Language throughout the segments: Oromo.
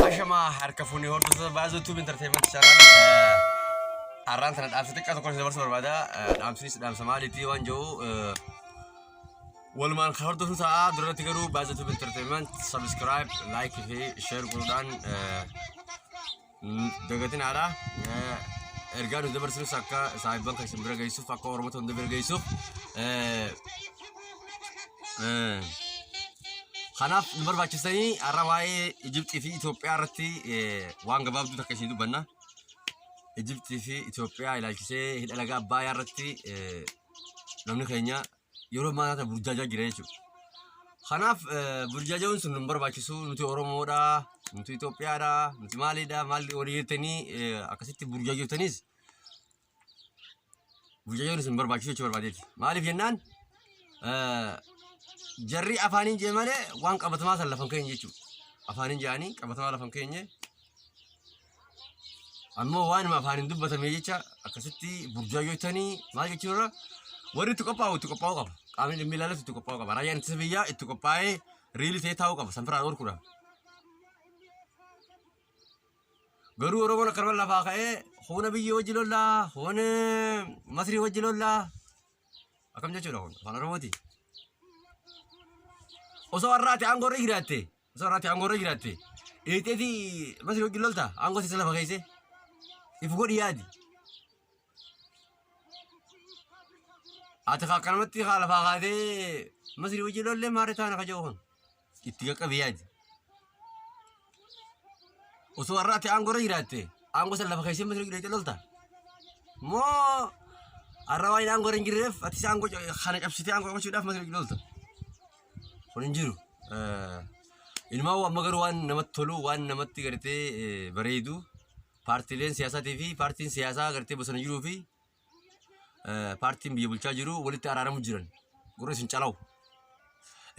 Ashamaa harka fuunee hordoftoota baazoo tuub intarteemanti chaanal har'aan tana dhaamsa xiqqaa tokko isin dabarsuu barbaada. Dhaamsinis dhaamsa maaliitii waan jedhu walumaan kan hordofnu ta'a. Duratti garuu baazoo tuub intarteemanti sabiskiraayib laayikii fi sheer godhuudhaan dagatin haadha. Ergaa nuti dabarsinus akka saahibban kan isin bira geessuuf akka oromoota hunda bira geessuuf Eh, Kanaaf nu barbaachistanii har'a waa'ee Ijibxii fi Itoophiyaa irratti eh, waan gabaabduu takka isin dubbanna. Ijibxii fi Itoophiyaa ilaalchisee hidha laga Abbayaa irratti eh, namni keenya yeroo ammaa kana burjaajaa jira jechuudha. Kanaaf eh, burjaajoon sun nu hin barbaachisu nuti Oromoodha, nuti Itoophiyaadha, nuti maalidha, maal walii jettanii eh, akkasitti burjaajotanis Mucayyoon isin barbaachisu jechuu barbaadeeti. Maaliif jennaan jarri afaaniin jee malee waan qabatamaa san lafan keenya jechuudha. Afaaniin jaanii qabatamaa lafan keenya ammoo waanuma afaaniin dubbatame jecha akkasitti burjaajoo tanii maal jechuun irra warri itti qophaa'u itti qophaa'uu qaba. Qaamni dhimmi ilaalatu itti qophaa'uu qaba. Raayyaan ittisa biyyaa itti qophaa'ee riilii ta'ee taa'uu qaba. San firaan oolkuudhaaf. Garuu Oromoon akkanuma lafaa ka'ee huuna biyyi wajji lollaa, huun Masrii wajji lollaa. Akkam jechuudha kun afaan Oromooti. Osoo har'aati aangoo irra jiraatte, osoo har'aati aangoo irra jiraatte, dheexeeti Masrii wajji lolta aangoo siisa lafa keessee. If godhi yaadi. Ati kaa akkanumatti kaa lafaa kaatee Masrii wajji lollee maarree taana ka jedhu kun. itti qaqqabe yaadi. Osoo har'aatti aangoo irra jiraatte aangoo san lafa keessee mata duree lolta. Moo har'a waan aangoo irra hin jirreef atis aangoo kana cabsitee aangoo qabachuudhaaf mata duree lolta. Kun hin jiru. Ilmaa amma garuu waan namatti tolu waan namatti gartee bareedu paartileen siyaasaatii fi paartiin siyaasaa gartee bosona jiruu fi eh, paartiin biyya bulchaa jiru walitti araaramu jiran gurra isin calawu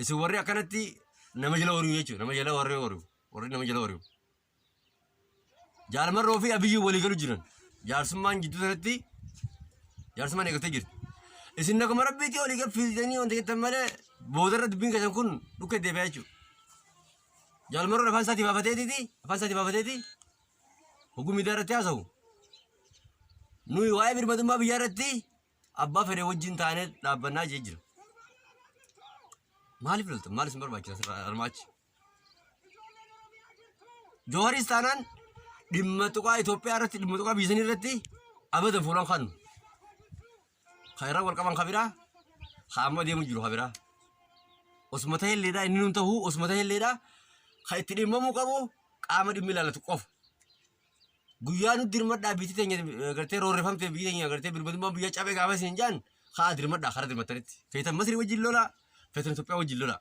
isin warri akkanatti nama jala horiu jechuudha nama jala warri horiu warri nama jala horiu jaalmarroo fi abiyyuu walii galu jiran jaarsummaan jidduu sanatti jaarsummaan eegattee jirti isin naguma rabbiitti olii gad fiidanii wanta jettan malee boodarra dubbiin keessan kun dhukkee deebi'aa jechuudha jaalmarroon afaan isaatii baafateetiiti afaan isaatii baafateeti Hoguu miidiyaa irratti haasa'u nuyi waa'ee birmadummaa biyyaa irratti abbaa fedhe wajjin taanee dhaabbannaa jee jira. Maaliif lolta? Maal isin barbaachisa asirraa armaachi? Jooharis taanaan dhimma tuqaa Itoophiyaa irratti dhimma tuqaa biyya sanii irratti abadan fuulaan kaanu. Kan irra wal qaban kan biraa kan amma deemu jiru kan biraa. Osuma ta'e illeedha inni nuun ta'u osuma ta'e illeedha kan itti dhimmamuu qabu qaama dhimmi ilaalatu qofa. Guyyaa nu dirmadhaa biyyi teenya eh, gartee roorrifamtee biyyi teenya gartee birmadummaan biyya cabee gaafa isin jaan haa dirmadhaa karaa dirmattanitti. Feetan Masrii wajjin lolaa feetan Itoophiyaa wajjin lolaa.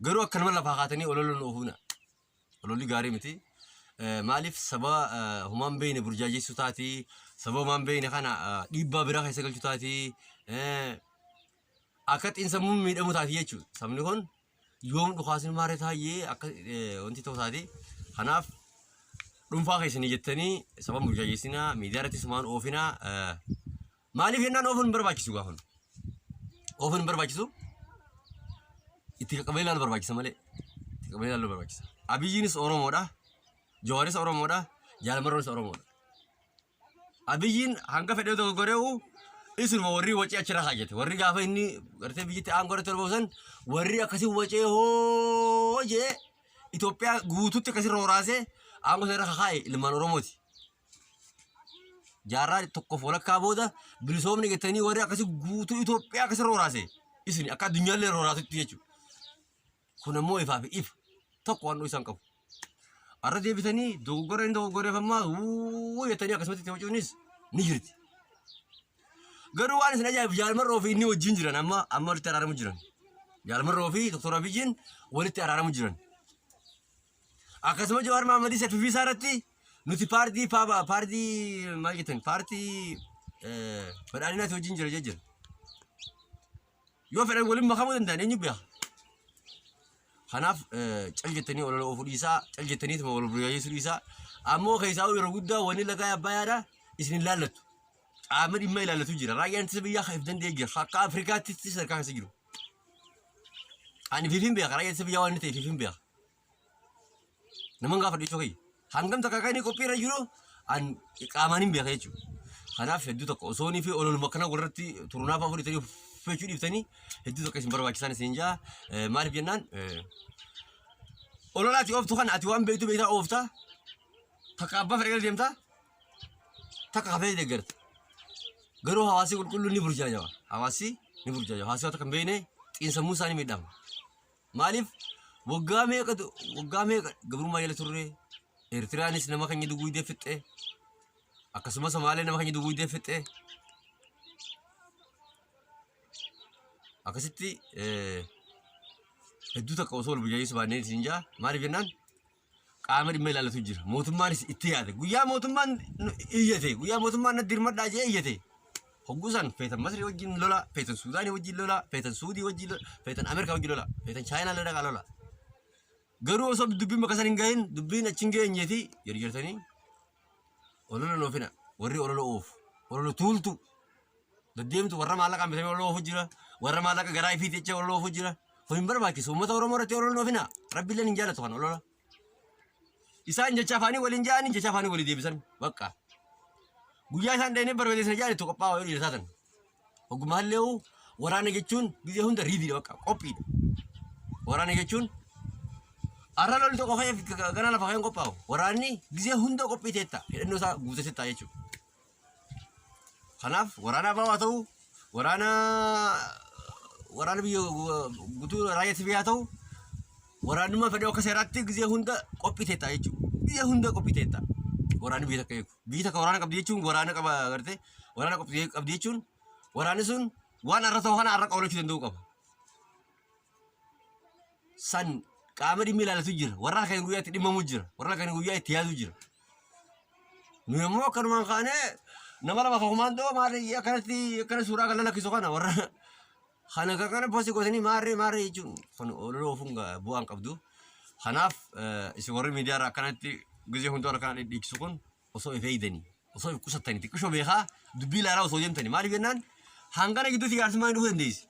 Garuu akkanuma lafaa kaatanii ololon oofuna. Ololli gaarii miti. Eh, Maaliif sababa eh, homaa hin beekne burjaajeessuu taati, sababa homaa hin beekne kana eh, dhiibbaa biraa keessa galchuu taati, eh, akka xiinsammuun miidhamu taati jechuudha. Sabni kun yoom dhukaasni maarree taa'ee akka eh, wanti ta'u taati. Kanaaf dhuunfaa keessanii jettanii sababa burjaajeessinaa miidiyaa irratti sumaan oofinaa eh, Maaliif jennaan oofuun hin barbaachisu gaafa hunda. Oofuun hin barbaachisu itti qaqqabee ilaalu barbaachisa malee. Itti qaqqabee ilaalu barbaachisa. Abiyyiinis Oromoodha. Jawaaris Oromoodha. Jaalamarroonis Oromoodha. Abiyyiin hanga fedhee dogoggoree'u isinuma warri wacee achirra kaajjate. Warri gaafa inni gartee biyyatti aangoo irratti ol ba'usan warri akkasii wacee hoo jee Itoophiyaa guutuutti akkasirra horaasee aangoo sana irra kakaa'e ilmaan Oromooti. jaarraa tokkoof walakkaa booda bilisoomni jettanii warri akkasii guutuu Itoophiyaa akkasii rooraase isin akka addunyaallee rooraasutti jechuudha. Kun ammoo ifaa fi ifa tokko waan isaan qabu. Arra deebitanii dogoggora inni dogoggoreef ammaa wuu jettanii akkasumatti itti wacuunis ni jirti. Garuu waan isin ajaa'ibu jaalmarroo fi inni wajjin jiran amma amma walitti araaramu jiran. Jaalmarroo fi doktor Abiyyiin walitti araaramu jiran. Akkasuma Jawaar Maammadii Safifii isaa irratti nuti paartii paaba paartii maal jettan paartii eh, badhaadhinaati wajjin jira jejjira. Yoo fedhan waliin makamuu danda'an eenyu beeka. Kanaaf eh, cal jettanii olola oofuu dhiisaa cal jettaniituma wal burjaajeessuu dhiisaa ammoo keessaa yeroo guddaa wanni lagaa abbayaadha isin hin laallattu. Qaama dhimma ilaallatu jira. Raayyaan ittisa biyyaa kan of danda'e jira. Akka Afrikaatti sadarkaa keessa jiru. Ani fiifin beeka. Raayyaan ittisa biyyaa waan inni ta'e fiifin beeka. Naman gaafa dhiisoo kiyya. Hangam takka kan inni qophii irra jiru an qaamaan hin beeka jechuudha. Kanaaf hedduu tokko osoo inni fi ololuma akkana walirratti turnaaf afur itanii uffachuu dhiiftanii hedduu tokko isin barbaachisaan isin jaa maaliif jennaan olola ati ooftu kana ati waan beektu beektaa oofta takka abbaa fedhe gara deemta takka hafee deeggarta. Garuu hawaasni qulqulluun ni burjaajawa. Hawaasni ni burjaajawa. Hawaasni waan takka hin beekne xiinsammuu isaa ni miidhama. Maaliif waggaa meeqa waggaa meeqa gabrummaa jala turre Eertiraanis nama keenya duguuydee fixxe akkasumas Somaalee nama keenya duguuydee fixxe akkasitti hedduu takka osoo wal burjaajeessu baannee isin jaa maaliif jennaan qaama dhimma ilaallatu jira. Mootummaanis itti yaade. Guyyaa mootummaan nu- iyyate, guyyaa mootummaan na dirmadhaa jee iyyate. Hogguu san feetan Masrii wajjin lola, feetan Suudaanii wajjin lola, feetan Suudii wajjin lola, feetan Ameerikaa wajjin lola, feetan Chaayinaa lola dhaqaa lola. Garuu osoo dubbiin bakka san hin gahin, dubbiin achi hin geenyeeti jedhu jirtanii. Olola loofina. Warri olola oofu. Olola tuultu. Daddeemtu warra maallaqaan bitamee olola oofu jira. Warra maallaqa garaa ifii jecha olola oofu jira. Kun hin barbaachisu. Uummata Oromoo irratti olola loofina. Rabbiilleen hin jaalatu kan olola. Isaan jecha afaanii waliin ja'anii jecha afaanii walii deebisan. Bakka. Guyyaa isaan dheenee barbadeessan ja'an itti qophaa'aa yoo dhiira taatan. Ogumaallee hoo waraana jechuun biyya hunda riidiidha bakka qophiidha. Waraana jechuun arra lolli tokko ka'eef gara lafa ka'een qophaa'u. Waraanni biyya hunda qophii teetta hidhannoo isaa guutee teetta jechuudha. Kanaaf waraana abaa haa ta'u waraana waraana biyya guutuu raayyaa sibii haa ta'u waraanummaa fedhee akka seeraatti biyya hunda qophii teetta jechuudha. Biyya hunda qophii teetta waraanni biyya takka eegu. Biyyi takka waraana qabdi jechuun waraana qaba agartee waraana qabdi qabdi jechuun waraanni sun waan har'a ta'u kana har'a qawlachuu danda'uu qaba. San qaama dhimmi ilaalatu jira. Warra halkan guyyaa itti dhimmamu jira. Warra halkan guyyaa itti yaadu jira. Nu immoo akkanumaan kaanee nama lama kan kumaandoo maali akkanatti akkana suuraa kan lakkisu kana warra Kana kan kana posti gotanii maarree maarree jechuun kun olola oofuun ga- bu'aa hin qabdu. Kanaaf eh, isin warri miidiyaa irraa akkanatti gizee hundaa wal kana dhidhiikisu kun osoo if eegdanii osoo if qusattanii xiqqishoo beekaa dubbii ilaalaa osoo deemtanii maaliif jennaan hangana gidduutti jaarsummaan dhufuu dandeessi.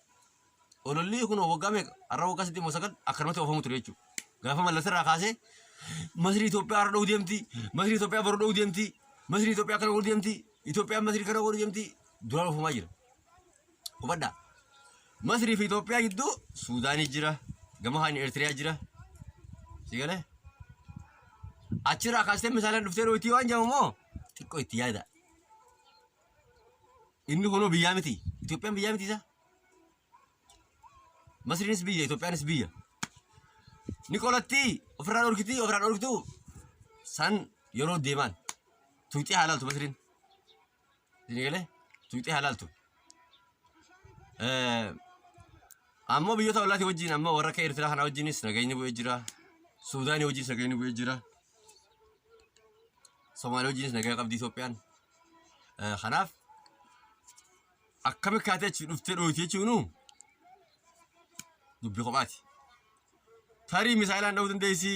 Ololli kun waggaa meeqa har'a waggaa saddeet moo sagal akkanumatti oofamu ture jechuudha. Gaafa mallas irraa kaasee Masrii Itoophiyaa har'a dha'uu deemti, Masrii Itoophiyaa boru dha'uu deemti, Masrii Itoophiyaa kana godhu deemti, Itoophiyaan Masrii kana godhu deemti duraan oofamaa jira. Hubadhaa. Masrii fi Itoophiyaa gidduu Suudaanii jira. Gama kaan Eertiriyaa jira. Si galee? Achirraa kaastee misaalaan dhuftee dhootii waan jedhamu moo xiqqoo itti yaada. Inni kunoo biyyaa miti. Itoophiyaan biyyaa miti isaa. Masriinis biyya, Itoophiyaanis biyya. Ni qolattii, ofirraa dhorkitii, ofirraa dhorkituu san yeroo deemaan. Tuuxii haalaaltu Masriin. Sini galee tuqxee halaaltu. Ammoo biyyoota ollaatii wajjin amma warra akka Eertiraa kana wajjinis nageenyi bu'ee jira. Suudaanii wajjinis nageenyi bu'ee jira. Somaaliyaa wajjinis nagaa qabdi Itoophiyaan. Kanaaf akkami kaatee achi dhuftee dhooyte jechuun dubbii kophaati. tarii misaayilaan dha'uu dandeessi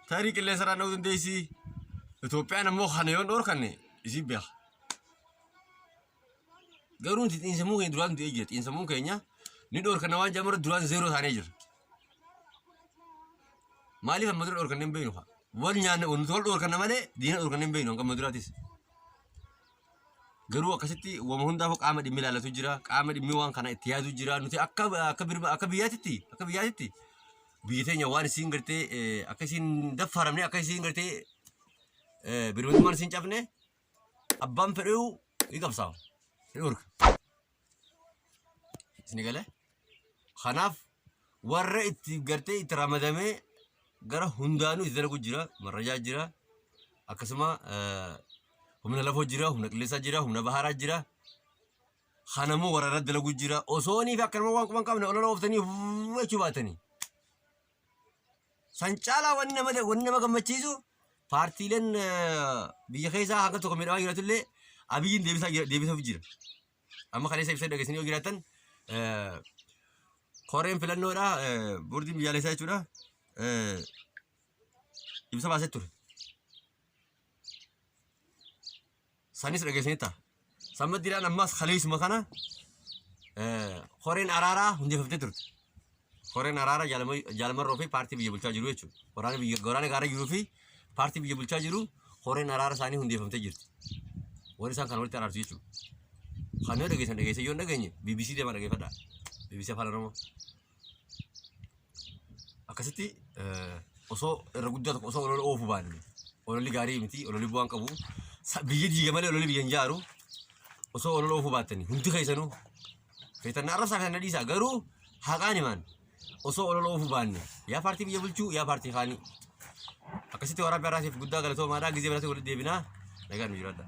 tarii qilleensarraan dha'uu dandeessi Itoophiyaan ammoo kana yoon dhoorkanne isin beeka. Garuu nuti xiinsammuu keenya duraan du'ee jira xiinsammuun keenya ni dhoorkanna waan jedhamu irratti duraan zeeroo taanee jira. Maaliif amma dura dhoorkanne hin beeknu kaa wal nyaanne nuti wal dhoorkanna malee diina dhoorkanne hin beeknu hanga amma duraatis. Garuu akkasitti wama hundaafuu qaama dhimmi ilaalatu jira. Qaama dhimmi waan kana itti yaadu jira. Nuti akka akka birma akka biyyaatitti akka biyyaatitti biyyi teenya waan isiin gartee eh, akka isiin daffaramne akka isiin gartee eh, birmadummaan isiin cabne abbaan fedhuu ni qabsaa'u. Ni dhorka. Isin galee? Kanaaf warra itti gartee itti ramadamee gara hundaanuu itti dalagu jira, marrajaa jira, akkasuma eh, humna lafoo jira, humna qilleensaa jira, humna baharaa jira. Kanammoo warra irratti dalagu jira. Osoonii fi akkanuma waan quban qabne olola ooftanii jechuu baatanii. San caalaa wanni nama wanni nama gammachiisu paartiileen eh, biyya keessaa haga tokko miidhamaa jiratullee abiyyiin deebisaa jira- deebisuuf jira. Amma kaleessa ibsa dhageessanii yoo jiraatan eh, koreen filannoodha eh, boordiin biyyaalessaa jechuudha eh, ibsa baasee ture. sanis dhageessanii ta'a. San maddiidhaan ammas kaleessuma kana koreen araaraa hundeeffamtee turte. Koreen araaraa jaalamarroo fi paartii biyya bulchaa jiru jechuudha. Waraana biyya waraana gaara jiruu fi paartii biyya bulchaa jiru koreen araara isaanii hundeeffamtee jirti. Warri isaan kana walitti araarsu jechuudha. Kan yoo dhageessan dhageessan yoo hin dhageenye BBC deemaa dhageeffadhaa. BBC Afaan Oromoo. akkasitti osoo irra guddaa tokko osoo olola oofu baanne ololli gaarii miti ololli bu'aan qabu biyya diiga malee ololli biyya hin jaaru osoo olola oofu baattani hundi keessanuu feetan na arrabsaa feetan na dhiisaa garuu haqaan himaan osoo olola oofu baanne yaa paartii biyya bulchuu yaa paartii kaanii akkasitti waraabbii har'aatiif guddaa galatoomaadhaa gizee biraatti walitti deebinaa nagaan nu jiraadhaa.